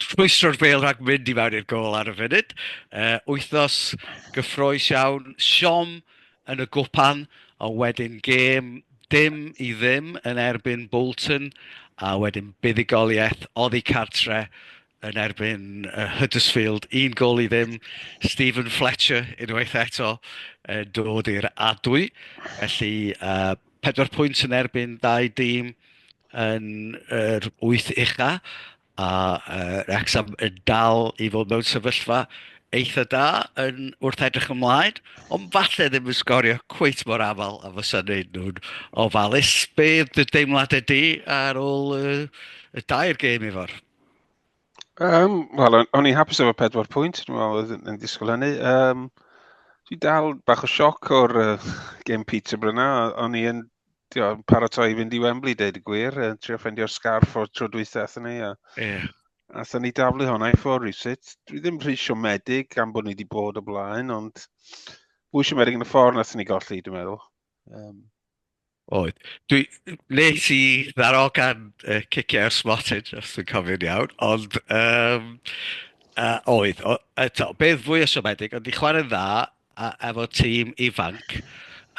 rhwystro'r bêl rhag mynd i mewn i'r gol ar y funud. Uh, wythnos gyffroes iawn, siom yn y gwpan, ond wedyn gêm dim i ddim yn erbyn Bolton, a wedyn buddigoliaeth oddi cartre yn erbyn uh, Huddersfield, un gol i ddim, Stephen Fletcher unwaith eto uh, dod i'r adwy. Felly, uh, pedwar pwynt yn erbyn dau dîm yn yr wyth ucha, A yy Wrecsam yn dal i fod mewn sefyllfa eitha' da yn wrth edrych ymlaen, ond falle ddim yn sgorio cweit mor aml a fysa'n wneud nhw'n ofalus. Be oedd dy deimladau di ar ôl y, y dair gêm i fod? Um, Wel, o'n i'n hapus efo pedwar pwynt, dwi'n meddwl oedd yn disgwyl hynny. Um, dwi dal bach o sioc o'r uh, gêm Peterborough na, o'n i'n tio'n paratoi i fynd i Wembley, deud y gwir, yn trio ffendio'r sgarff o'r tro dwytha athyn ni. A, yeah. a thyn ni daflu hwnna i ffwrdd rhywsut. Dwi ddim rhy siomedig gan bod ni wedi bod o blaen, ond fwy siomedig yn y ffordd nath ni golli, dwi'n meddwl. Um, Oedd. Dwi, nes i ddaro gan uh, ciciau ar Smotin, os dwi'n cofio'n iawn, ond um, uh, oedd, o, eto, beth fwy o siomedig, ond i chwarae'n dda, a efo tîm ifanc,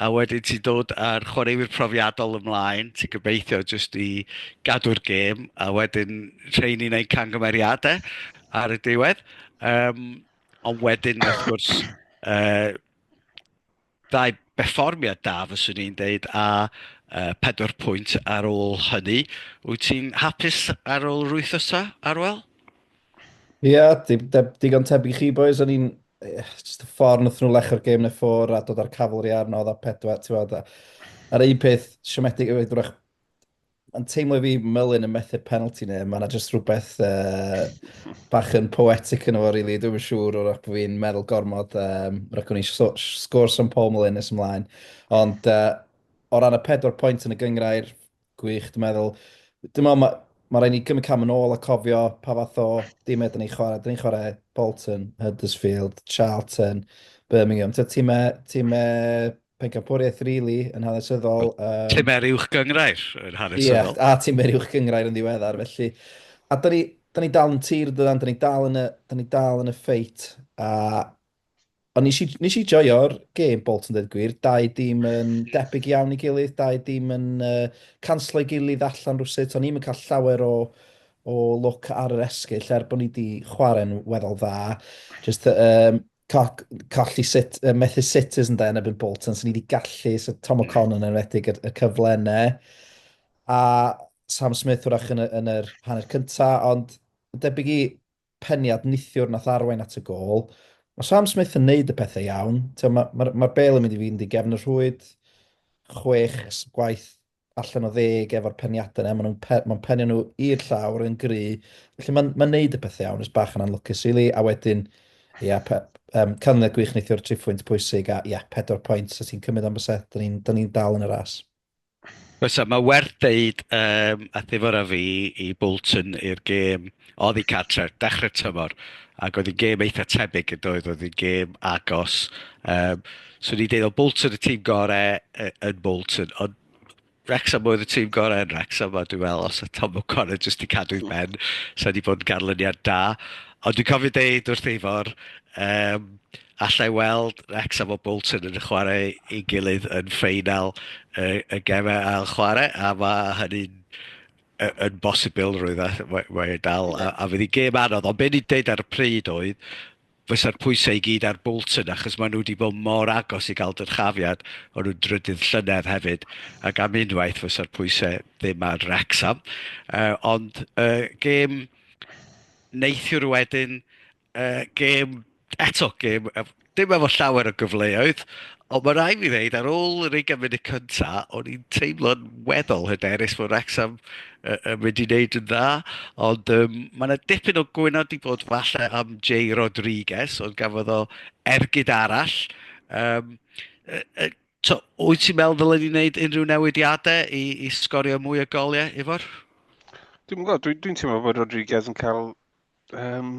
a wedyn ti'n dod â'r chwaraewyr profiadol ymlaen, ti'n gobeithio jyst i gadw'r gêm, a wedyn rheini'n gwneud cangymeriadau ar y diwedd. Um, ond wedyn, wrth gwrs, uh, ddau berfformiad da, fyswn i'n deud, a uh, pedwar pwynt ar ôl hynny. Wyt ti'n hapus ar ôl rwythosa, Arwel? Ia, di- de- digon tebyg i chi boys, o'n i'n... eh, Just y ffordd nath nhw lecho'r gêm yn y ffwr a dod â'r cavalry arno, oedd a pedwar, ti'n fawr da. A'r un peth siomedig yw, drach, mae'n teimlo i fi Mylun yn methu'r penalty neu, mae yna just rhywbeth uh, bach yn poetic yn efo, really. Dwi'n yn siŵr o'r bod fi'n meddwl gormod, um, rhaid o'n i so- sgôr St Paul Mylun nes ymlaen. Ond uh, o ran y pedwar pwynt yn y gyngrair, Gwych, dwi'n meddwl. Dwi'n meddwl mae ma rhaid ni gymryd cam yn ôl a cofio pa fath o dim ydyn ni'n chwarae. Dyn ni'n chwarae Bolton, Huddersfield, Charlton, Birmingham. Ti'n timau, timau pencampwriaeth really yn hanesyddol. Um, timau'r uwch gyngrair yn hanesyddol. Ie, a timau'r uwch gyngrair yn ddiweddar. Felly, a dyn ni, dyn ni dal yn tir, dyn ni dal yn y, dyn ni dal yn y ffeit. A Ond nes i, nes i joio'r gêm Bolton dweud gwir, dau dîm yn debyg iawn i gilydd, dau dîm yn uh, canslo i gilydd allan rhywsut, o'n i'n cael llawer o, o look ar yr esgyll er bod ni wedi chwarae'n weddol dda. Just, um, colli sit, uh, methu sitters yn da yn ebyn Bolton, so ni wedi gallu, so Tom O'Connor yn enwedig y, y cyfle yna. A Sam Smith wrach yn, yn yr hanner cyntaf, ond debyg i Peniad nithiwr nath arwain at y gol. Ma Sam Smith yn neud y pethe iawn. T'o ma ma ma'r bêl yn mynd i fynd i gefn y rhwyd. Chwech gwaith allan o ddeg efo'r peniade 'na. Ma nw'n pe- ma'n penio nhw i'r llawr yn gry. Felly ma'n ma'n neud y pethe iawn. Jys bach yn anlwcus rili a wedyn ia pe- yym canlyniad gwych neithiwr triphwynt pwysig a ia pedwar pwynt os ti'n cymyd am byset 'da ni'n 'da ni'n dal yn y ras. Oes, a mae werth deud, um, a thifor a fi i Bolton i'r gêm oedd i cartre, dechrau tymor, ac oedd hi'n gêm eitha tebyg yn doedd, oedd hi'n gêm agos. Um, so ni deud o Bolton y tîm gorau yn Bolton, ond Wrexham oedd y tîm gorau yn Wrexham, a dwi'n meddwl os oedd Tom O'Connor jyst i cadw i ben, sa'n ni bod yn garlyniad da. Ond dwi'n cofio deud wrth eifor, um, alla i weld Wrecsam a Bolton yn chwarae ei gilydd yn ffeinal y, y gemau ail chwarae, a mae hynny'n yn bosibl rwy'n mae, mae dal, a, a fydd i gêm anodd, ond be'n i'n deud ar y pryd oedd, fysa'r pwysau i gyd ar Bolton, achos maen nhw wedi bod mor agos i gael dyrchafiad, o'n nhw'n drydydd llynedd hefyd, ac am unwaith fysa'r pwysau ddim ar Wrexham. Uh, ond uh, gêm neithiwr wedyn, Uh, gêm, eto gêm, dim efo llawer o gyfleoedd, ond mae rai fi ddeud, ar ôl yr ei gymryd y cynta, o'n i'n teimlo'n weddol hyderus fod Rexham uh, yn mynd i wneud yn dda, ond um, mae yna dipyn o gwynod i bod falle am Jay Rodriguez, ond gafodd o ergyd arall. Um, uh, uh, So, wyt ti'n meddwl ddylen ni wneud unrhyw newidiadau i, i sgorio mwy o goliau, Ifor? Dwi'n gwybod, dwi'n dwi teimlo bod Rodriguez yn cael um,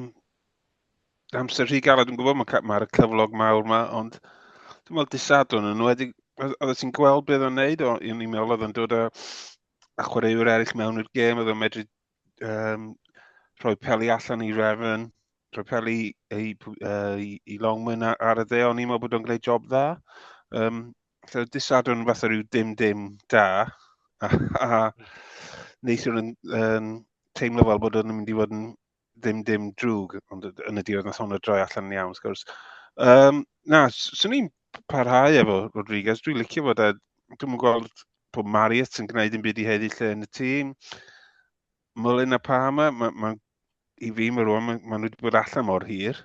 amser rhy galed, dwi'n gwybod mae'r ma, ma cyflog mawr yma, ond dwi'n meddwl disadwn yn wedi, oedd ti'n gweld beth o'n neud, o'n i'n meddwl oedd o'n dod â, a chwaraewyr eraill mewn i'r gêm, oedd o'n medru um, rhoi peli allan i Refn, rhoi peli i, uh, i, i Longman ar y dde, o'n i'n meddwl bod o'n gwneud job dda. Um, so disadwn fath o rhyw dim dim da, a, a neithiwr yn, yn teimlo fel bod o'n mynd i fod yn dim dim drwg, ond yn y diwedd nath hwnna droi allan yn iawn, wrth gwrs. Um, na, swn i'n parhau efo Rodriguez, dwi'n licio fod e, dwi'n gweld bod Mariot yn gwneud yn byd i heddi lle yn y tîm. Mullin a Palmer, ma, ma, i fi mae rwan, maen ma nhw wedi bod allan mor hir.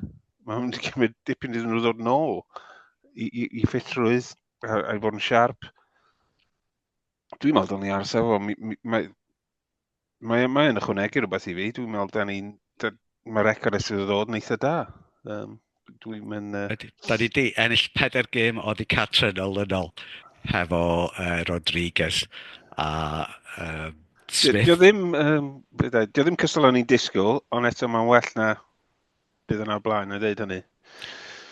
Mae hwn wedi cymryd dipyn iddyn nhw ddod nôl i, i, i ffitrwydd a, a i fod yn siarp. Dwi'n meddwl dylwn ni aros efo, mae, mae, mae yn ychwanegu rhywbeth i fi. Dwi'n meddwl da ni'n, mae'r record sydd wedi dod yn eitha da. Um, Dwi'n mynd... Uh... Da ni di ennill pedair gêm o di catre yn olynol hefo uh, Rodriguez a um, Smith. Dio ddim, um, dio ddim cystal o'n i'n disgwyl, ond eto mae'n well na bydd yna blaen yn dweud hynny.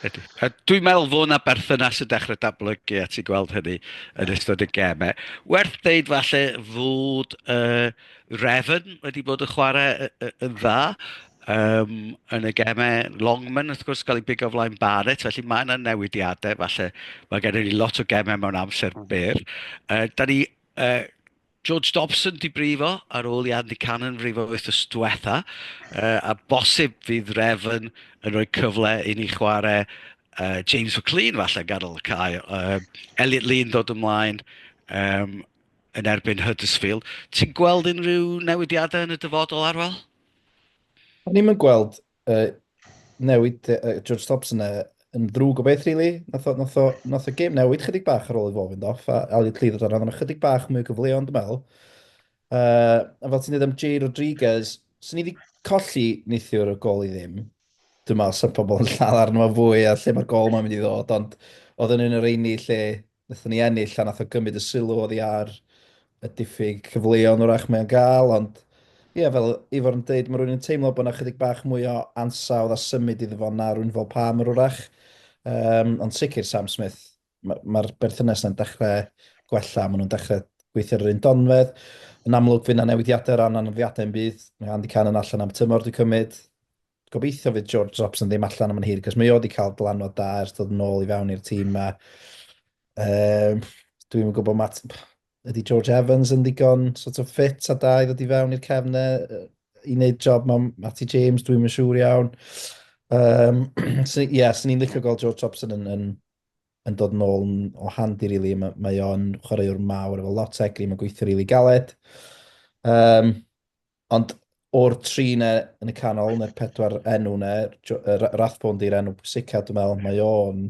Ydy. A dwi'n meddwl fod yna berthynas yn dechrau dablygu a ti'n gweld hynny yn ystod y gemau. Werth ddeud falle fod uh, Refn wedi bod yn chwarae yn dda yym yn y gemau. Longman wrth gwrs cael ei bigo flaen Barrett, felly mae yna newidiadau falle. Mae gennym ni lot o gemau mewn amser hmm. byr. Uh, da ni, uh, George Dobson di brifo ar ôl i Andy Cannon frifo wythnos diwetha, uh, a bosib fydd Refn yn rhoi cyfle i ni chwarae uh, James McLean falle yn ganol y cael. Uh, Elliot Lee yn dod ymlaen. Um, yn erbyn Huddersfield. Ti'n gweld unrhyw newidiadau yn y dyfodol, Arwel? O'n i'm yn gweld uh, newid uh, George Thompson uh, yn ddrwg o beth, really. Nath o, nath o, nath o game newid chydig bach ar ôl i fo fynd off, a Elliot Lee ddod arno, chydig bach mwy o gyfleon, dwi'n meddwl. Uh, a fel ti'n dweud am Jay Rodriguez, sy'n ni wedi colli neithiwr y gol i ddim. Dwi'n meddwl sy'n pobl yn lladd arno fo fwy a lle mae'r gol mae'n mynd i ddod, ond oedd yn un o'r eini lle wnaethon ni ennill a nath o gymryd y sylw oddi ar y diffyg cyfleon wrach mae'n gael, ond ie, yeah, fel Ifor yn dweud, mae rhywun yn teimlo bod yna chydig bach mwy o ansawdd a symud iddo fo na rhywun fel Palmer wrach. Um, ond sicr Sam Smith, mae'r ma berthynas yna'n dechrau gwella, maen nhw'n dechrau gweithio ar yr un donfedd. Yn amlwg fydd yna newidiadau o ran anaddiadau yn byd. Mae Andy Cannon allan am tymor, dwi'n cymryd. Gobeithio fydd George Robson ddim allan am yn hir, cos mae o wedi cael dylanwad da ers dod yn ôl i fewn i'r tîm yma. Um, Dwi'n gwybod mat... Ydy George Evans yn ddigon sort of fit a da i ddod i fewn i'r cefn e, i wneud job mae Matty James, dwi'n mynd siŵr iawn. Um, so, yeah, sy'n ni'n licio gweld George Robson yn, yn, yn dod yn ôl yn, o handi, really. Mae, mae o'n chwaraewr mawr efo lot egni, mae'n gweithio rili really galed. Um, Ond o'r tri ne yn y canol, neu'r pedwar enw ne, Rathbone di'r enw pwysica, dwi'n meddwl, mae o'n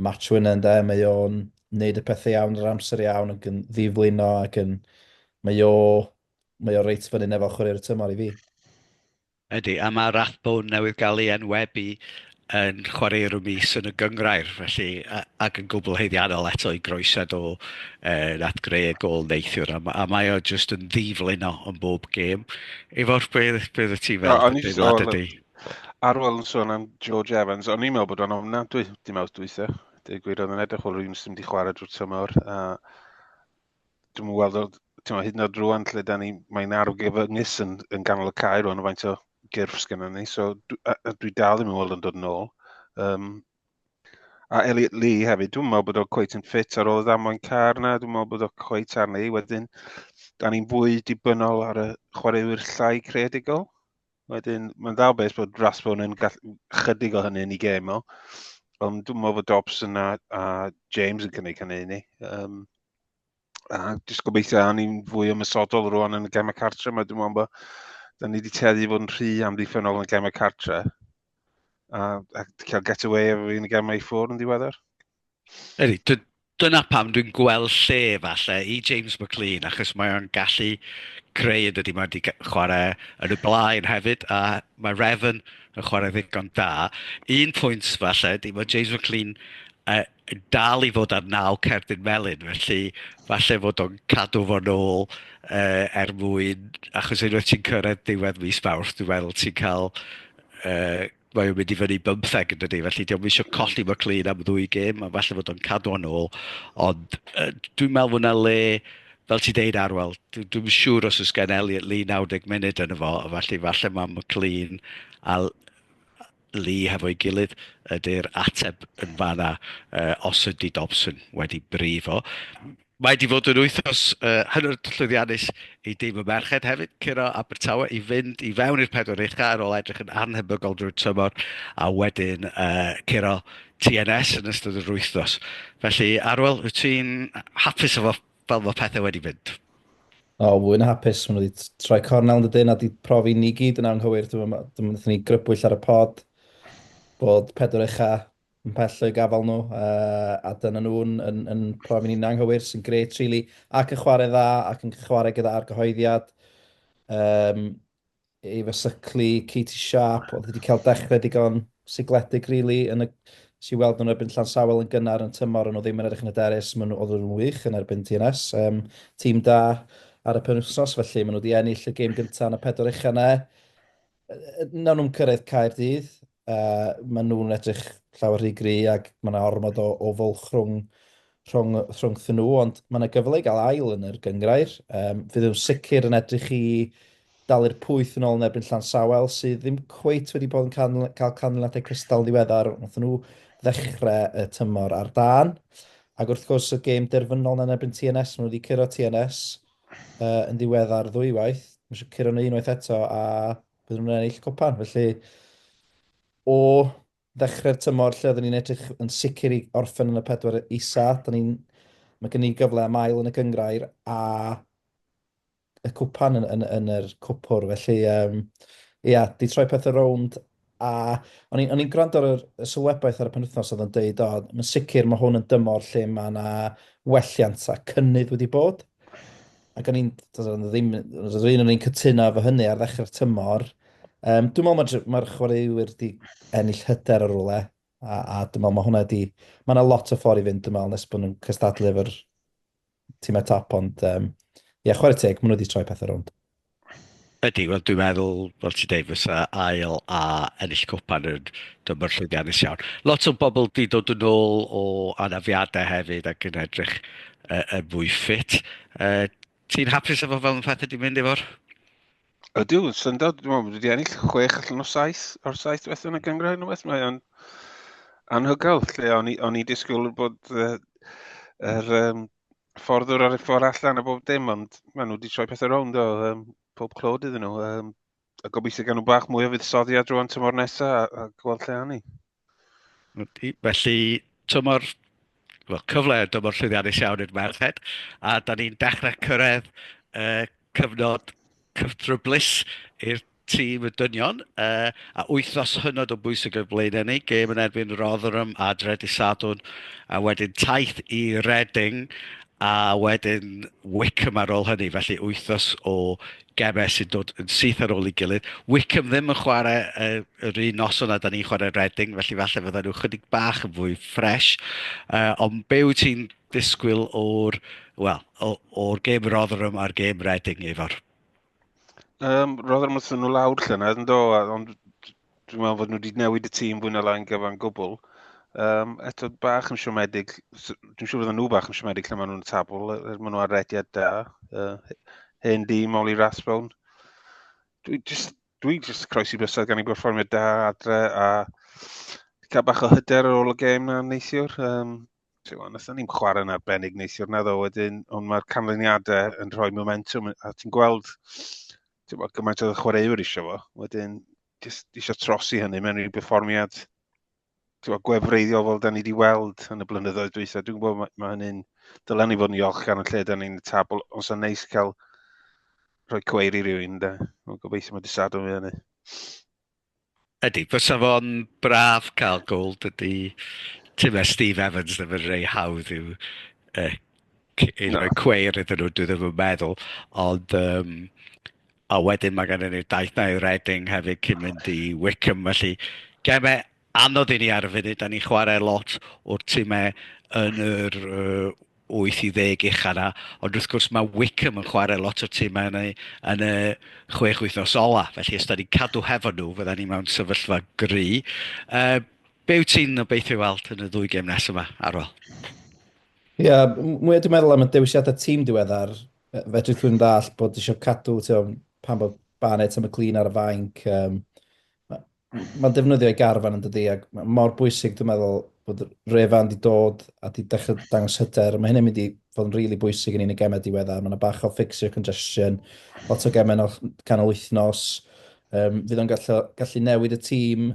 match winner ynddo, mae o'n neud y pethau iawn yr amser iawn ac yn ddiflino ac yn... Mae o, mae o reit fyny nefo chwarae'r tymor i fi. Ydy, a mae Rathbone newydd gael ei enwebu yn chwarae i Rwmis yn y gynghrair, felly, a, ac yn gwbl haeddiannol eto i groesed o uh, at greu y gol neithiwr, a, a mae o jyst yn ddiflino yn bob gêm. Efo'r beth, beth y ti fel? No, o'n i jyst o'n ydy. Ar ôl yn sôn am George Evans, o'n i'n meddwl bod o'n ofnadwy, dim awt dweitha. Dweud gwir, oedd yn edrych o'r un sy'n di chwarae drwy'r tymor. A Dwi'n mwyn gweld o, ti'n hyd yn oed rwan lle da ni, mae'n argyfyngus yn, yn ganol y cae rwan o faint o gyrff sgynna ni, so dwi, a, a dwi dal ddim yn weld yn dod yn ôl. Um, a Elliot Lee hefyd, dwi'n meddwl bod o cweit yn ffit ar ôl y ddamwain car na, dwi'n meddwl bod o cweit arni. Wedyn, da ni'n fwy dibynnol ar y chwaraewyr llai creadigol. Wedyn, mae'n dda beth bod Rathbone yn gall... chydig o hynny yn ei gêm o. Ond dwi'n meddwl bod Dobson a, a James yn cynnig hynny i ni. Um, a jyst gobeithio a ni'n fwy ymysodol rwan yn y gemau cartre mae dwi'n meddwl bod da ni wedi tueddu i fod yn rhy amddiffynol yn y gemau cartre a, a cael get away efo fi yn y gemau i ffwrdd yn ddiweddar. Ydy, dyna pam dwi'n gweld lle falle i James McLean, achos mae o'n gallu creu yn dydy, mae wedi chwarae yn y blaen hefyd, a mae Refn yn chwarae ddigon da. Un pwynt falle, di, mae James McLean uh, dal i fod ar naw cerdyn melyn, felly falle fod o'n cadw fo'n ôl uh, er mwyn, achos unwaith ti'n cyrraedd diwedd mis Mawrth, dwi'n meddwl ti'n cael uh, mae o'n mynd i fyny bymtheg yn dydy, felly diolch eisiau hmm. colli mae Clean am ddwy gêm, a falle fod o'n cadw o'n ôl, ond uh, dwi'n meddwl fod yna le, fel ti deud Arwel, dwi'n dwi siŵr os oes gen Elliot Lee 90 munud yn y fo, felly falle mae McLean a Lee hefo'i gilydd ydy'r ateb yn fanna uh, os ydy Dobson wedi brifo. Mae 'di fod yn wythnos uh, hynod llwyddiannus i dîm y merched hefyd, curo Abertawe i fynd i fewn i'r pedwar ucha ar ôl edrych yn anhebygol drwy'r tymor a wedyn uh, curo TNS yn ystod yr wythnos. Felly, Arwel, wyt ti'n hapus efo fel mae pethau wedi mynd? O, fwy na hapus. Mae nhw wedi troi cornel yn dydyn a wedi profi ni gyd yn anghywir. Dyma, dyma ni grybwyll ar y pod bod pedwar ucha yn pell o'u gafal nhw, uh, a dyna nhw'n yn, yn profi'n un anghywir sy'n gret, really, ac yn chwarae dda, ac yn chwarae gyda argyhoeddiad. Um, ei fysyglu, Katie Sharp, oedd wedi cael dechrau digon sigledig, really, yn y, sy'n weld nhw'n erbyn Llansawel yn gynnar yn tymor, ond nhw ddim yn edrych yn y derys, maen nhw oedd nhw'n wych yn erbyn TNS. Um, tîm da ar y penwthnos, felly maen nhw wedi ennill y gêm gyntaf yn y pedwar eich yna. Nawr nhw'n cyrraedd Caerdydd, Uh, maen nhw'n edrych llawer rhy gry ac mae yna ormod o, o fwlch rhwng, rhwng, rhwng nhw, ond mae yna gyfle i gael ail yn yr gyngrair. Um, fydd nhw'n sicr yn edrych i dalu'r pwyth yn ôl yn erbyn llan sawel sydd ddim cweit wedi bod yn cael, cael canlyniadau cystal yn ddiweddar. Nath nhw ddechrau y tymor ar dan. Ac wrth gwrs y gêm derfynol yn erbyn TNS, maen nhw wedi curo TNS uh, yn ddiweddar ddwywaith. Mae eisiau curo nhw unwaith eto a bydden nhw'n ennill copan. Felly, o ddechrau'r tymor lle oedden ni'n edrych yn sicr i orffen yn y pedwar isa, da ni'n Mae gen i gyfle am ail yn y gyngrair a y cwpan yn, yn, yn yr cwpwr. Felly, um, ia, di troi pethau rownd a o'n i'n i gwrando ar y sylwebaeth ar y penwthnos oedd yn dweud, o, mae'n sicr mae hwn yn dymor lle mae yna welliant a cynnydd wedi bod. ac o'n i'n, doeddwn i ddim, doeddwn i ddim cytuno efo hynny ar ddechrau'r tymor. Um, dwi'n meddwl mae'r ma chwaraewyr wedi ennill hyder ar rwle, a, a dwi'n meddwl mae hwnna wedi... Mae yna lot o ffordd i fynd, dwi'n meddwl, nes bod nhw'n cystadlu efo'r tîmau top, ond um, ie, yeah, chwarae teg, maen nhw wedi troi pethau rownd. Ydy, wel dwi'n meddwl, fel ti'n deud, fysa ail a ennill copan yn dymor llwyddiannus iawn. Lot o bobl di dod yn ôl o anafiadau hefyd ac yn edrych uh, yn fwy ffit. Uh, ti'n hapus efo fel yn pethau di mynd efo'r? Ydw, syndod, dwi'n meddwl bod wedi ennill chwech allan o saith o'r saith beth yn y gyngrau yn y beth. Mae o'n anhygoel, lle o'n i, on i disgwyl bod yr uh, er, um, ffordd o'r ffordd allan a bob dim, ond maen nhw wedi troi pethau rownd o um, pob clod iddyn nhw. Um, a gobeithio gan nhw bach mwy o fuddsoddiad drwy'n tymor nesaf a, a gweld lle anni. Felly, tymor well, cyfle yn dymor llwyddiannus iawn i'r merched, a da ni'n dechrau cyrraedd uh, cyfnod cyftryblus i'r tîm y dynion uh, a wythnos hynod o bwysig o'r blaen ni. Gêm yn erbyn Rotherham a Dredu Sadwn a wedyn taith i Reading a wedyn Wickham ar ôl hynny. Felly wythnos o gemau sy'n dod yn syth ar ôl i gilydd. Wickham ddim yn chwarae uh, yr un noson a da ni'n chwarae Reading, felly falle fydda nhw chydig bach yn fwy ffres. Uh, ond be wyt ti'n disgwyl o'r, well, o'r gêm Rotherham a'r gêm Reading efo'r Um, roedd yn ymwneud nhw lawr lle yna, ynddo, ond dwi'n meddwl fod nhw wedi newid y tîm fwy na lai'n gyfan gwbl. Um, eto bach yn siomedig, dwi'n siŵr fydden nhw bach yn siomedig lle maen nhw'n tabl, er, er maen nhw ar rediad da. Uh, hen di, Molly Rathbone. Dwi'n just, dwi just croesi bysau gan i berfformio da adre a cael bach o hyder ar ôl y gêm na neithiwr. Um, Tewa, nathon ni'n chwarae yn arbennig neithiwr na ddo wedyn, ond mae'r canlyniadau yn rhoi momentum, a ti'n gweld tewa, gymaint oedd y chwaraewyr eisiau fo, wedyn just eisiau trosi hynny mewn i'r berfformiad tewa, gwefreiddiol fel da ni wedi weld yn y blynyddoedd dweitha. Dwi'n gwybod mae, mae hynny'n dylen ni fod yn iolch gan y lle da ni'n y tabl, os yna neis cael rhoi cweir i rywun, da. Mae'n gobeithio mae disado fi hynny. Ydy, fysa fo'n braf cael goal. Dydy tim a Steve Evans ddim yn rhai hawdd i'w uh, rhoi cweir iddyn nhw, dwi ddim yn meddwl. Ond, um, a wedyn mae gennym ni'r daith na i Reading hefyd cyn mynd i Wickham. Felly, gemau anodd i ni ar y funud, da ni'n chwarae lot o'r timau yn yr uh, wyth i ddeg ucha 'na, ond wrth gwrs mae Wycombe yn chwarae lot o'r timau yn y, yn y chwech wythnos ola, felly os da ni'n cadw hefo nhw, fydda ni mewn sefyllfa gry. Uh, be wyt ti'n obeithio weld yn y ddwy gem nes yma, Arwel? Ie, yeah, mwy dwi'n meddwl am y dewisiadau tîm diweddar, fedri dwi'n ddall bod eisiau cadw tio, pan bod Barnett am y clean ar y fainc, um, Mae'n defnyddio ei garfan yn dydi, ac mae mor bwysig dwi'n meddwl bod Revan wedi dod a wedi dechrau dangos hyder. Mae hynny'n mynd i fod yn rili really bwysig yn un y gemau diweddar. Mae yna bach o ffixio congestion, lot o gemau o'r canol wythnos. Um, fydd o'n gallu, gallu newid y tîm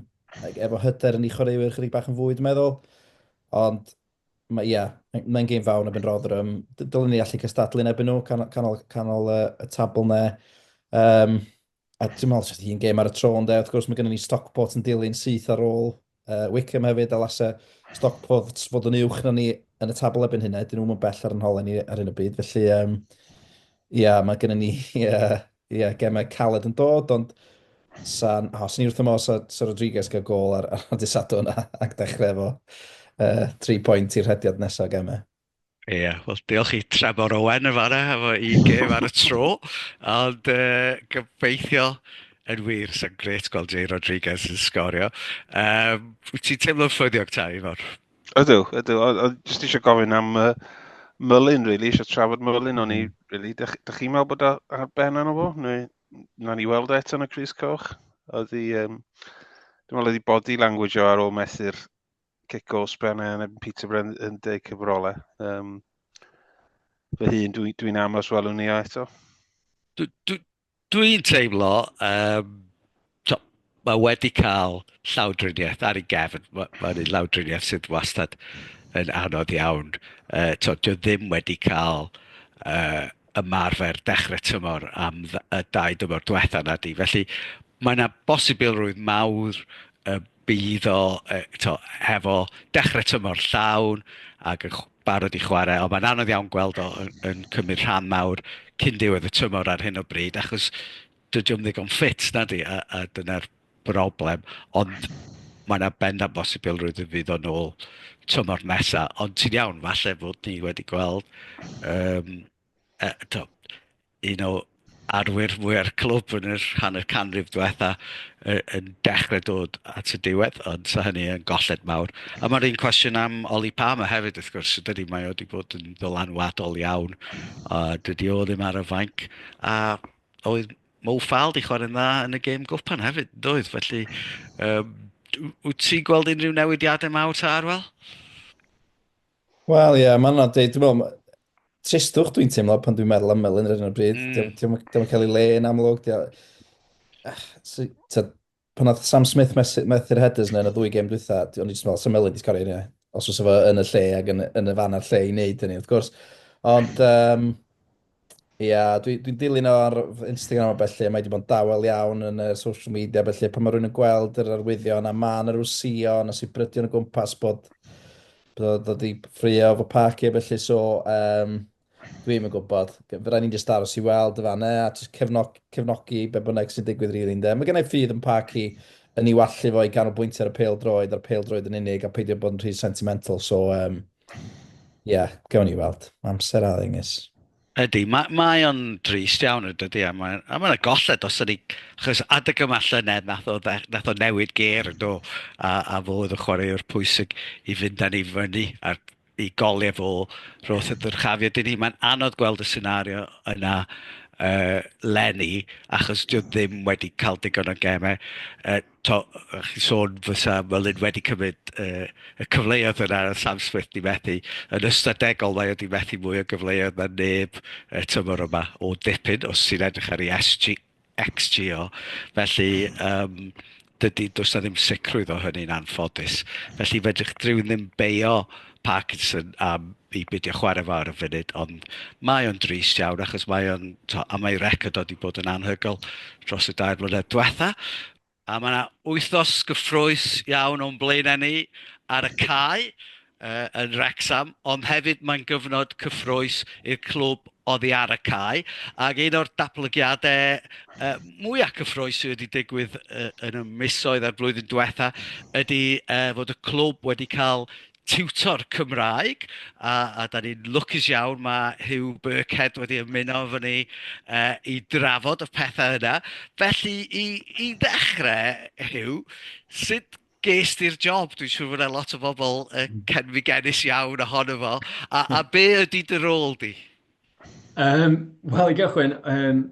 efo hyder yn ei chwaraewyr chydig bach yn fwy, dwi'n meddwl. Ond mae, ia, mae'n gêm fawr na Ben Rotherham. Dylen ni allu cystadlu yn ebyn nhw, canol, canol, canol uh, y tabl ne. Um, A dwi'n meddwl sydd hi'n gêm ar y tro yn dweud, wrth gwrs mae gennym ni Stockport yn dilyn syth ar ôl uh, Wickham hefyd, a lasau Stockport fod yn uwch na ni yn y tabl ebyn hynna, dyn nhw'n bell ar yn holen ni ar un o byd, felly um, ia, mae gennym ni ia, ia, gemau caled yn dod, ond san, oh, sy'n ni wrth ymwneud sa, sa Rodriguez gael gol ar, ar y disadwn ac dechrau efo uh, 3 pwynt i'r rhediad nesaf gemau. Ie, wel diolch i Trefor Owen yn fan'na efo i gêm ar y tro, ond yy gobeithio yn wir, sa'n grêt gweld Jay Rodriguez yn sgorio. Yym wyt ti'n teimlo'n ffyddiog ta Ifor? Ydw, ydw, o- o- jyst eisiau gofyn am uh, Mullin, really, eisiau trafod Mullin, o'n i, hmm. really, da, chi- da chi'n meddwl bod o ar ben arno fo? Neu, na ni weld e eto yn y Cris Coch? Oedd i, um, dwi'n meddwl oedd i body language o ar ôl methu'r cic o sbren yn erbyn Peterborough yn, yn deg cyfrolau. Um, fy hun, dwi'n dwi, dwi amlos welwn ni o eto. Dwi'n dwi, dwi teimlo, um, mae wedi cael llawdriniaeth ar ei gefn. Mae'n ma, ma llawdriniaeth sydd wastad yn anodd iawn. Uh, to, dwi ddim wedi cael uh, ymarfer dechrau tymor am y dau dymor diwetha na di. Felly mae yna bosibilrwydd mawr y bydd o yy t'o' hefo dechre tymor llawn ac yn chw- barod i chware ond mae'n anodd iawn gweld o yn yn cymryd rhan mawr cyn diwedd y tymor ar hyn o bryd achos dydi o'm ddigon ffit nadi a a dyna'r broblem ond mae 'na bendant bosibilrwydd y fydd o nôl tymor nesa ond ti'n iawn falle fod ni wedi gweld yym yy t'o' un o arwyr mwya'r clwb yn yr hanner canrif dwetha yy yn dechre dod at y diwedd ond 'sa hynny yn golled mawr. A ma'r un cwestiwn am Ollie Palmer hefyd wrth gwrs dydi? Mae o 'di bod yn ddylanwadol iawn a dydi o ddim ar y fainc a oedd Mo Fall 'di chwarae'n dda yn y gêm gwpan hefyd doedd? Felly yym wyt ti'n gweld unrhyw newidiadau mawr ta Arwel? Wel, ie, yeah, mae'n anodd dweud. Dwi'n meddwl, tristwch dwi'n teimlo pan dwi'n meddwl am Melin ar hyn o bryd. Mm. Dwi'n meddwl cael ei le yn amlwg. Pan oedd Sam Smith methu'r headers yna yn y ddwy gem dwytha, o'n i jyst yn meddwl, sy'n Melin di sgorio hynny. Os oes efo yn y lle ac yn, yn y fan a'r lle i wneud hynny, wrth gwrs. Ond, um, Ia, dwi, dwi'n dilyn o ar fy Instagram a bellu, a mae wedi bod yn dawel iawn yn y social media a bellu, pan mae rhywun yn gweld yr arwyddion a man yr wsion a sibrydion o gwmpas bod bod o dod i ffrio fy pac i a bellu, so um, dwi ddim yn gwybod. Fe rai ni'n just aros i weld y fanna a just cefnog, cefnogi be bynnag sy'n digwydd rili really, ynde. Mae gennau ffydd yn pac i yn ei wallu fo i ganolbwyntio ar y pêl droed a'r pêl droed yn unig a peidio bod yn rhy sentimental, so um, Ia, gawn ni weld. Mae amser a ddengys. Ydy, mae, mae o'n drist iawn yn dydy, a mae'n a mae yna golled os ydy, achos adeg yma llynedd nath o, nath o newid ger yn do, a, a fo oedd y chwaraewr pwysig i fynd â ni fyny a'r i goliau fo roth y dyrchafiad i ni. Mae'n anodd gweld y senario yna uh, lenni, achos dwi ddim wedi cael digon o gemau. Uh, to, o'ch chi'n sôn fysa Merlin wedi cymryd uh, y cyfleoedd yna a Sam Smith di methu. Yn ystadegol mae wedi methu mwy o gyfleoedd na neb y tymor yma o dipyn os ti'n edrych ar ei SG, XGO. Felly, um, dydy, does na ddim sicrwydd o hynny'n anffodus. Felly fedrwch drwy ddim beio uh, Parkinson am i beidio chware fo ar y funud, ond mae o'n drist iawn achos mae o'n... tibod, a mae ei record o 'di bod yn anhygoel dros y dair mlynedd diwetha'. A mae 'na wythnos gyffrous iawn o'n blaenau ni ar y cae yy yn Wrecsam, ond hefyd mae'n gyfnod cyffrous i'r clwb oddi ar y cae, ac un o'r datblygiadau yy mwya cyffrous sydd wedi digwydd yy yn y misoedd a'r flwyddyn diwetha' ydy yy fod y clwb wedi cael tiwtor Cymraeg, a a 'dan ni'n lwcus iawn, ma' Huw Birkhead wedi ymuno efo ni yy i drafod y pethe yna. Felly i i ddechrau, Huw, sut Ges ti'r job, dwi'n siŵr fod 'na lot o bobl yy cenfigenus iawn ohono fo, a a be ydy dy rôl di? Yym wel i gychwyn yym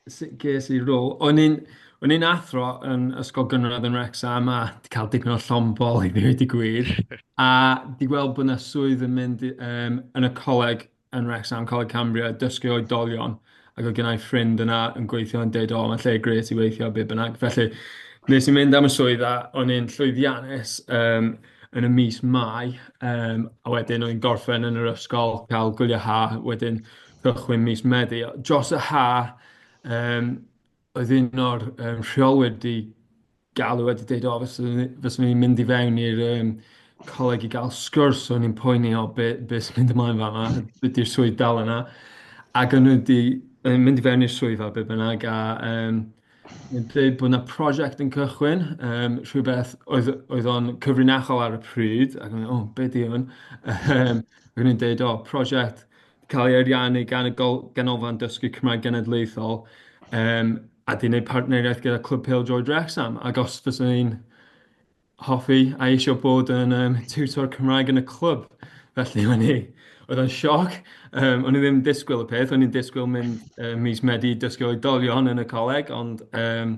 sut ges i'r rôl? O'n i'n o'n i'n athro yn ysgol gynradd yn Wrecsam a 'di cael dipyn o llond-bol i ddeud y gwir a 'di gweld bod 'na swydd yn mynd yym yn y coleg yn Wrecsam, Coleg Cambria, dysgu oedolion, ac oedd gennau ffrind yna yn gweithio yn deud, o, mae'n lle gret i weithio, be bynnag. Felly, nes i mynd am y swydd a o'n i'n llwyddiannus um, yn y mis Mai, um, a wedyn o'n i'n gorffen yn yr ysgol, cael gwyliau ha, wedyn cychwyn mis Medi. Dros y ha, um, Oedd un o'r yym rheolwyr 'di galw a 'di deud "o fyswn i fyswn i'n mynd i fewn i'r yym coleg i gael sgwrs, o'n i'n poeni o be be sy'n mynd ymlaen fan'na, dydy'r swydd dal yna." Ac o'n nhw 'di yym mynd i fewn i'r swyddfa be bynnag a yym yn deud bod 'na prosiect yn cychwyn, yym rhywbeth oedd oedd o'n cyfrinachol ar y pryd ac o'n i'n meddwl "o be 'di hwn?" Yym ac o'n nhw'n deud "o prosiect..." cael ei ariannu gan y gol- Ganolfan Dysgu Cymraeg Genedlaethol, yym, a 'di wneud partneriaeth gyda Clwb Pêl-droed Wrecsam, ac os fyswn i'n hoffi a eisiau bod yn yym tiwtor Cymraeg yn y clwb, felly o'n i... oedd o'n sioc, yym, o'n i ddim yn disgwyl y peth, o'n i'n disgwyl mynd yy mis Medi i dysgu oedolion yn y coleg, ond yym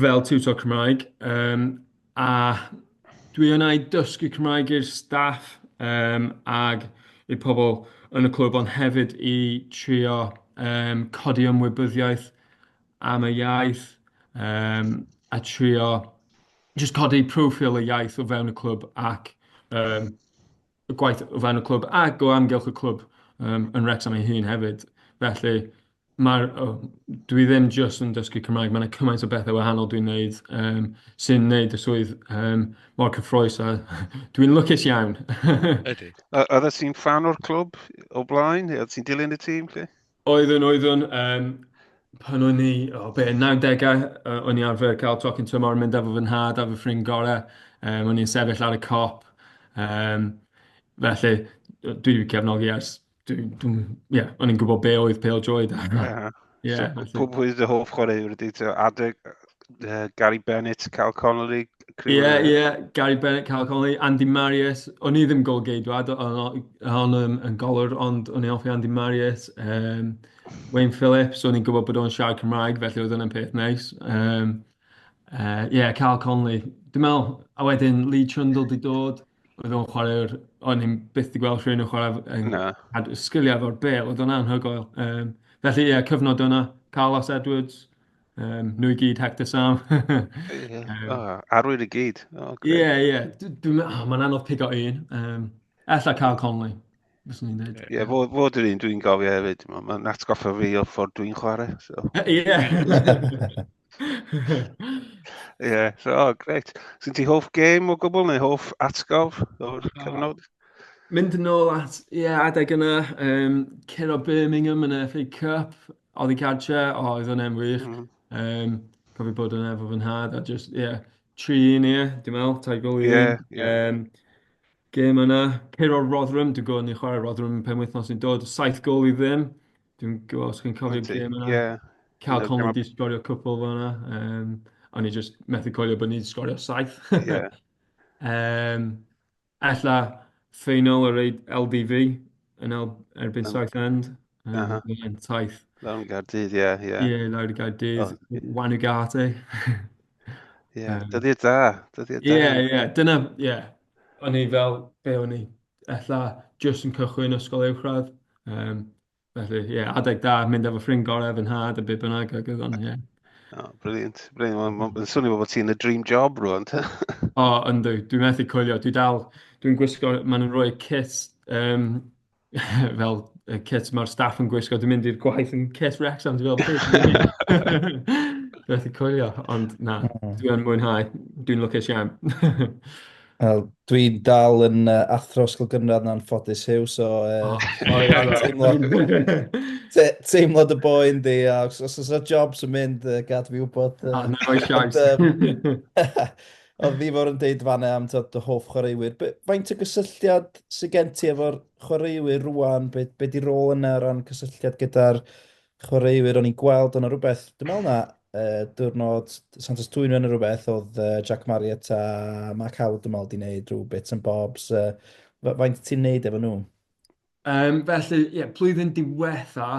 fel tiwtor Cymraeg, yym, a dwi yna i dysgu Cymraeg i'r staff, yym, ac i'r pobl yn y clwb, ond hefyd i trio yym codi ymwybyddiaeth am y iaith, yym, a trio jyst codi profiil y iaith o fewn y clwb ac yym... y gwaith o fewn y clwb ac o amgylch y clwb um, yn Wrexham ei hun hefyd. Felly, mae'r, oh, dwi ddim jyst yn dysgu Cymraeg, mae yna cymaint o bethau wahanol dwi'n neud um, sy'n neud y swydd um, mor cyffroes a dwi'n lwcus iawn. Ydy. Oeddet ti'n fan o'r clwb o blaen? Oeddet ti'n dilyn y tîm? Lle? Oeddwn, oeddwn. Yym, pan o'n i, o be, 90au, yy, o'n i arfer cael tocyn tymor yn mynd efo fy nhad a fy ffrind gorau. Um, o'n i'n sefyll ar y cop. Um, felly, dwi wedi cefnogi ers... Dwi, dwi, ie, yeah, o'n i'n gwybod be oedd Pale Joy da. Yeah. yeah, so, pwy dy hoff chwaraewr ydy? Adeg uh, Gary Bennett, Cal Connolly, Ie, ie, Gary Bennett, Carl Connolly, Andy Marius. O'n i ddim golgeidwad, o'n i'n yn golwr, ond o'n i'n hoffi Andy Marius. Um, Wayne Phillips, o'n i'n gwybod bod o'n siarad Cymraeg, felly oedd yna'n peth neis. Ie, um, uh, yeah, Carl Connolly. Dwi'n meddwl, a wedyn Lee Trundle di dod, oedd o'n chwarae'r... O'n i'n byth di gweld rhywun yn chwarae... Yn, a sgiliau fo'r bel, oedd o'n anhygoel. Um, felly, ie, yeah, cyfnod o'na. Carlos Edwards, Yym, nhw i gyd, Hector Sam. Ie, o, arwyr i gyd. O, grêt. Ie, ie. D- Dwi'n meddwl, mae'n anodd pigo un. Um, Alla Carl Conley, fyswn i'n dweud. Ie, fo, fo dyn un dwi'n gofio hefyd. Mae- Mae'n atgoffa fi o'r ffordd dwi'n chwarae. So. Ie. Ie, yeah, so, oh, greit. Syn ti hoff gêm o gwbl neu hoff atgof o'r cyfnod? Mynd yn ôl at, ie, yeah, adeg yna, um, curo Birmingham yn y FA Cup, Oddi cartre, o, oedd hwnna'n wych. Mm. Um, cofio bod yna efo fy nhad, a just, ie, yeah, tri un, ie, yeah, dim el, tai gol i yeah, yeah. um, Gêm yna, ceir o'r Rotherham, dwi'n gwybod ni'n chwarae Rotherham pen wythnos sy'n dod, saith gol i ddim. Dwi'n gwybod os chi'n cofio gêm yna. Yeah. Cal yeah, Conley di sgorio cwpl fo yna. Um, a ni just methu coelio bod ni wedi sgorio saith. yeah. um, Ella final yr LDV yn erbyn oh. Southend. Um, uh -huh. Mae'n taith. Lawr yn Gardydd, ie. Yeah, yeah. yeah, lawr yn Gardydd. Oh. Wan y gart, e. Ie, yeah, um, dyddiad da. Dyddiad da. Ie, yeah, ie. Yeah. Dyna, ie. Yeah. O'n i fel, be o'n i? Ella, just yn cychwyn ysgol uwchradd. Um, Felly, ie, yeah, adeg da, mynd efo ffrind gorau, fy nhad, a beth bynnag, ac oedd o'n, ie. Yeah. Oh, brilliant, brilliant. Mae'n ma, swnio bod ti'n y dream job rwan, te. o, oh, ynddo, dwi'n methu coelio. Dwi dal, dwi'n gwisgo, maen nhw'n rhoi kit, um, fel y kit mae'r staff yn gwisgo. Dwi'n mynd i'r gwaith yn kit Wrexham, dwi'n fel, methu coelio, ond na, hmm. dwi'n mwynhau, dwi'n lwcus iawn. Wel, dwi'n dal yn uh, athro ysgol gynradd na'n ffodus hiw, so uh, oh, teimlad, te, teimlad y boen di, a os, os yna jobs yn mynd, uh, gad fi wybod. Uh, ah, na, roi siais. Oedd fi fawr yn deud fanna am tod, dy hoff chwaraewyr. Be, faint o gysylltiad sy'n gen ti efo'r chwaraewyr rwan? Be, be di rôl yna o ran cysylltiad gyda'r chwaraewyr o'n i'n gweld ond o rhywbeth, dwi'n meddwl na uh, diwrnod Santos Twy'n yn rhywbeth oedd uh, Jack Marriott a Mark Howard dwi'n meddwl di wneud rhyw bits and bobs. Uh, faint ti'n wneud efo nhw? Um, felly, ie, yeah, plwyddyn diwetha,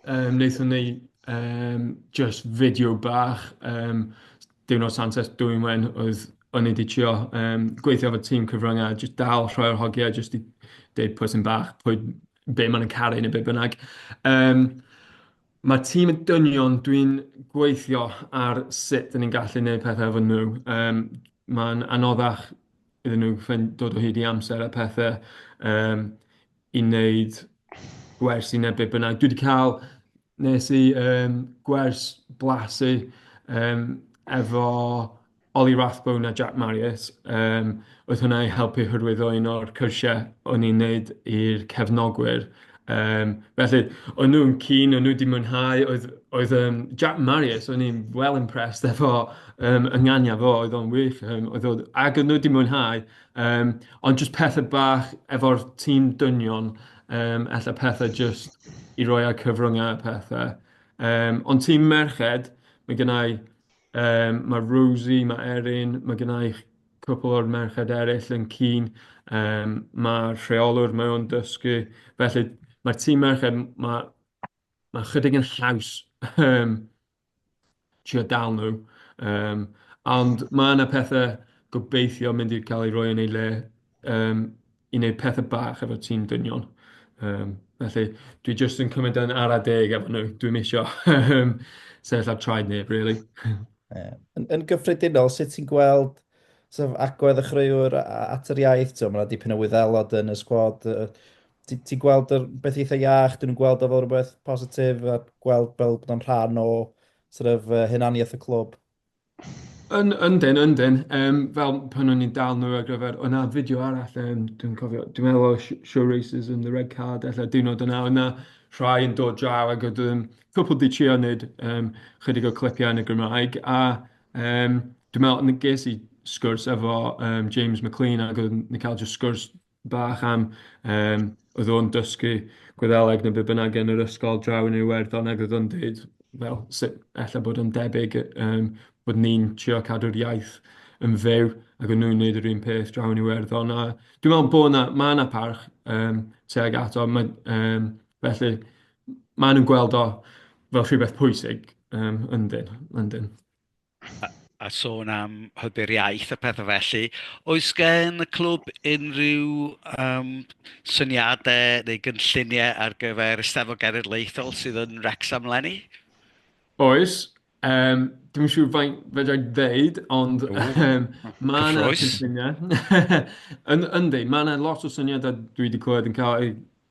um, wnaethon ni um, just fideo bach, um, diwrnod Santos dwi'n wen oedd o'n i wedi trio um, gweithio efo tîm cyfryngau, just dal rhoi'r hogiau, just i deud pwy sy'n bach, pwy be maen nhw'n caru neu be bynnag. Um, mae tîm y dynion, dwi'n gweithio ar sut dyn ni'n gallu gwneud pethau efo nhw. Um, Mae'n anoddach iddyn nhw ffyn- dod o hyd i amser a pethau um, i wneud gwers i neu be bynnag. Dwi wedi cael Wnes i yym gwers blasu yym efo Ollie Rathbone a Jack Marriott, yym oedd hwnna i helpu hyrwyddo un o'r cyrsiau o'n i'n wneud i'r cefnogwyr, yym felly o'n nhw'n keen, o'n nhw 'di mwynhau, oedd oedd yym Jack Marriott, o'n i'n well impressed efo yym ynganiad fo, oedd o'n wych yym oedd o... ac o'n nhw 'di mwynhau yym ond jyst pethe bach efo'r tîm dynion. Yym ella pethau jyst i roi ar cyfryngau a pethau. Yym ond ti'n merched, mae gynna i yym mae Rosie, mae Erin, mae gynna i cwpl o'r merched eraill yn keen, yym mae'r rheolwr mae o'n dysgu, felly mae'r tîm merched ma' ma' chydig yn haws yym. trio dal nhw. Um, ond mae yna pethau gobeithio mynd i cael ei roi yn ei le um, i wneud pethau bach efo tîm dynion. Um, felly, dwi jyst yn cymryd yn ara deg efo nhw. Dwi'n misio sefyll ar traed neb, really. yeah. yn, yn gyffredinol, sut ti'n gweld sef, agwedd y chreuwr at yr iaith? Mae yna dipyn o wyddelod yn y sgwad. ti, ti gweld yr beth eitha iach, dyn nhw'n gweld o fel rhywbeth positif a gweld fel bod o'n rhan o sort of, uh, hunaniaeth y clwb. Yn, yndyn, yndyn. Um, fel pan o'n i'n dal nhw ar gyfer, o'na fideo arall, um, dwi'n cofio, dwi'n meddwl o Show Races and the Red Card, efallai diwrnod yna, o'na rhai yn dod draw ac oedd um, cwpl di trio wneud um, chydig o clipiau yn y Gymraeg, a um, dwi'n meddwl, ges i sgwrs efo um, James McLean ac oedd yn cael just sgwrs bach am yym oedd o'n dysgu Gwyddeleg neu be bynnag yn yr ysgol draw yn Iwerddon ac oedd o'n deud fel sut ella bod o'n debyg yym bod ni'n trio cadw'r iaith yn fyw ac o'n nhw'n wneud yr un peth draw yn Iwerddon a dwi'n meddwl bod 'na... ma' 'na parch yym tuag ato ma' yym felly maen nhw'n gweld o fel rhywbeth pwysig yym yndyn yndyn. a sôn am hybu'r iaith a pethau felly, oes gen y clwb unrhyw um, syniadau neu gynlluniau ar gyfer Eisteddfod Genedlaethol sydd yn Wrexham lenni? Oes, um, dwi'n siŵr faint fedra i ddeud, ond um, mae yna cynlluniau. Yndi, mae yna lot o syniadau dwi wedi clywed yn cael ei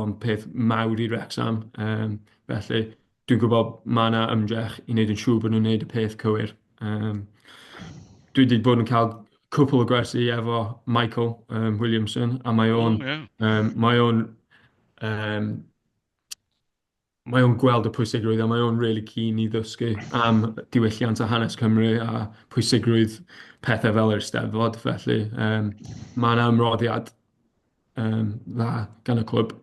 o'n peth mawr i Wrecsam, yym, felly dwi'n gwybod ma' 'na ymdrech i wneud yn siŵr bod nhw'n wneud y peth cywir, yym, dwi 'di bod yn cael cwpwl o gwersi efo Michael yym Williamson a mae o'n yym mae o'n yym... Mae o'n gweld y pwysigrwydd a mae o'n rili keen i ddysgu am diwylliant a hanes Cymru a pwysigrwydd pethe fel yr Eisteddfod, felly yym ma' 'na ymroddiad yym dda gan y clwb.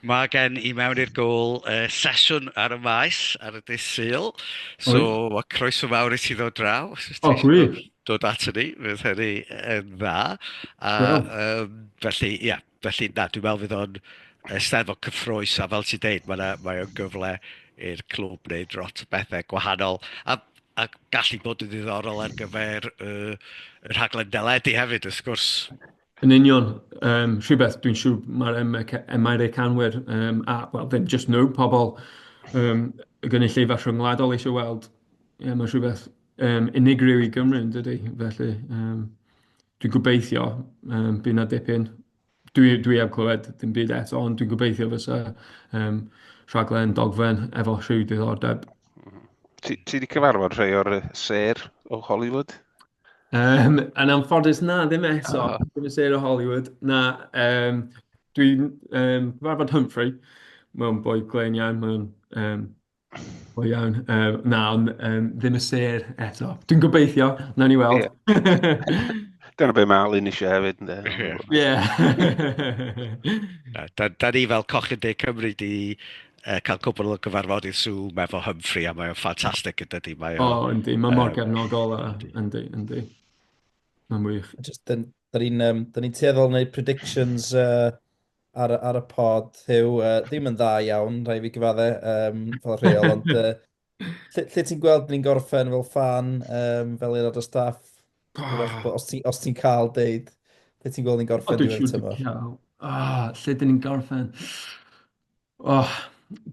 Mae gen i mewn i'r gôl yy sesiwn ar y Maes ar y dydd Sul, so ma' croeso fawr i ti ddod draw os wyt ti... O gwych. ...dod ato ni, fydd hynny yn dda a yym felly ia. Felly na, dwi'n meddwl fydd o'n Eisteddfod cyffrous a fel ti'n deud, mae 'na... mae o'n gyfle i'r clwb wneud lot o bethau gwahanol a a gallu bod yn ddiddorol ar gyfer y y rhaglen deledu hefyd wrth gwrs. Yn union, um, rhywbeth dwi'n siŵr mae'r Americanwyr, um, a wel ddim jyst nhw, pobl um, y gynulleidfa rhyngwladol eisiau weld. Ie, mae rhywbeth yym, unigryw i Gymru yn dydy? Felly yym dwi'n gobeithio yym bydd 'na dipyn. Dwi dwi heb clywed dim byd eto, ond dwi'n gobeithio fysa yym rhaglen dogfen efo rhyw diddordeb. Ti wedi cyfarfod rhai o'r ser o Hollywood? Um, yn anffodus na, ddim eto. Oh. Ddim yn ser o Hollywood. Na, um, dwi'n um, cyfarfod Humphrey. Mae'n boi glen iawn, mae'n um, O iawn, yym na ond yym ddim y sêr eto. Dwi'n gobeithio, wnawn ni weld. Dyna be mae Alun eisiau hefyd, ynddo? Ie. Da, da ni fel Cochyn De Cymru di uh, cael cwbl o gyfarfodydd Zoom efo Humphrey a mae'n ffantastig yn dydy. Mae o, oh, yndi, mae mor gefnogol a, yndi, yndi. Mae'n wych. Just, da ni'n um, ni tueddol wneud predictions uh, ar, ar y pod, Huw, uh, ddim yn dda iawn, rhaid fi gyfadde, um, fel rheol, ond uh, lle, lle ti'n gweld ni'n gorffen fel fan, um, fel aelod o staff, oh. os ti'n ti cael deud, lle ti'n gweld ni'n gorffen oh, diwedd tymor? Ah, lle dyn ni'n gorffen? Oh,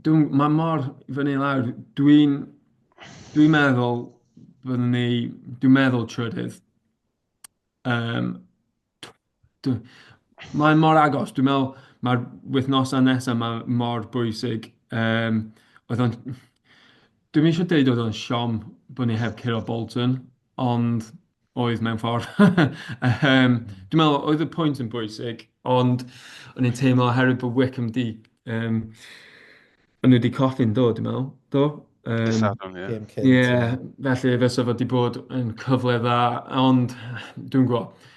dwi'n, mae mor fyny lawr. Dwi'n dwi meddwl, fyddwn ni, dwi'n meddwl trydydd. Um, Dw- Mae mor agos. Dwi'n meddwl mae'r wythnosau nesaf 'ma mor bwysig. Yym, oedd o'n... Dwi'm isio deud oedd o'n siom bod ni heb curo Bolton, ond oedd mewn ffordd. Yym, dwi'n meddwl oedd y pwynt yn bwysig, ond o'n i'n teimlo oherwydd bod Wycombe 'di yym O'n nhw 'di colli yn do, dwi'n meddwl, do? Dydd Yym, Sadwrn, ie. Gêm cynt, ie. ie, felly fysa fo 'di bod yn cyfle dda, ond dwi'n gwybod.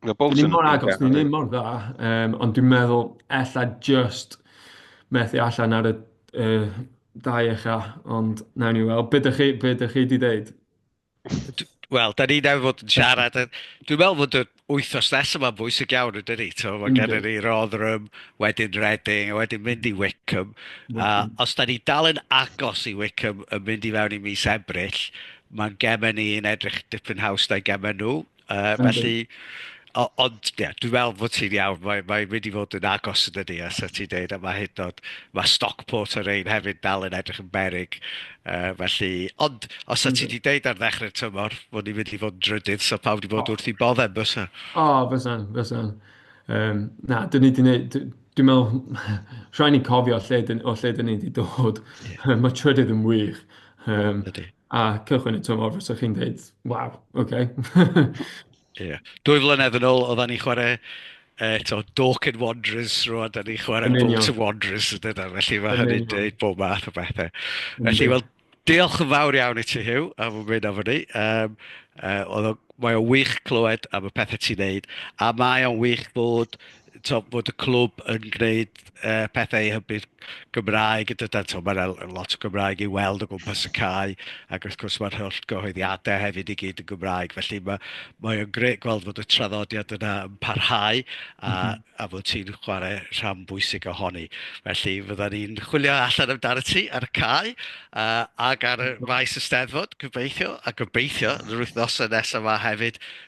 Mae Dyn ni Bolton yn mor agos, dyn ni ddim mor dda, um, ond dwi'n meddwl ella just methu allan ar y uh, dau echa, ond nawn ni weld. Be dych chi, be dych chi di ddeud? Wel, da ni newydd fod yn siarad. Dwi'n meddwl fod y wythnos nes yma'n bwysig iawn, ydyn ni. Mae mm-hmm. gennym ni Rotherham, wedyn Reading, a wedyn mynd i Wickham. A os da ni dal yn agos i Wickham yn mynd i fewn i mis Ebrill, mae'n gemen ni yn edrych dipyn haws na'i gemen nhw. Yy felly o- ond ie dwi'n meddwl bod ti'n iawn, mae mae wedi mynd i fod yn agos yn dydy, os o't ti'n deud yma hyd yn oed, ma' Stockport a Rain hefyd dal yn edrych yn beryg yy felly, ond os o't ti 'di deud ar ddechrau'r tymor bod ni'n mynd i fod yn drydydd 'sa pawb 'di bod wrth eu boddau bysa? O bysan, bysan. Yym na, 'dyn ni 'di wneud... dwi dwi'n meddwl rhaid ni cofio lle 'dyn o lle 'dyn ni 'di dod, ma' trydydd yn wych yym... Yndi. a cychwyn y tymor fysa chi'n dweud, waw, oce. Okay. yeah. Dwy flynedd yn ôl, oedden ni chwarae eto eh, Dork and Wanderers, rwan, da ni chwarae Bolt and Wanderers, ydyn nhw, felly mae hynny'n dweud bob math o bethau. Felly, wel, diolch yn fawr iawn i ti, Hugh, am y mynd am ni. Um, uh, oedd o, mae o'n wych clywed am y pethau ti'n neud, a mae o'n wych bod tibod, bod y clwb yn gwneud yy pethau i hybu'r Gymraeg, a dydan, tibod, mae 'na lot o Gymraeg i'w weld o gwmpas y cae, ac wrth gwrs mae'r holl gyhoeddiadau hefyd i gyd yn Gymraeg, felly ma' mae o'n grêt gweld fod y traddodiad yna yn parhau a a fod ti'n chwarae rhan bwysig ohoni. Felly fyddan ni'n chwilio allan amdano ti ar y cae yy ac ar y maes Eisteddfod gobeithio, a gobeithio yn yr wythnosau nesaf 'ma hefyd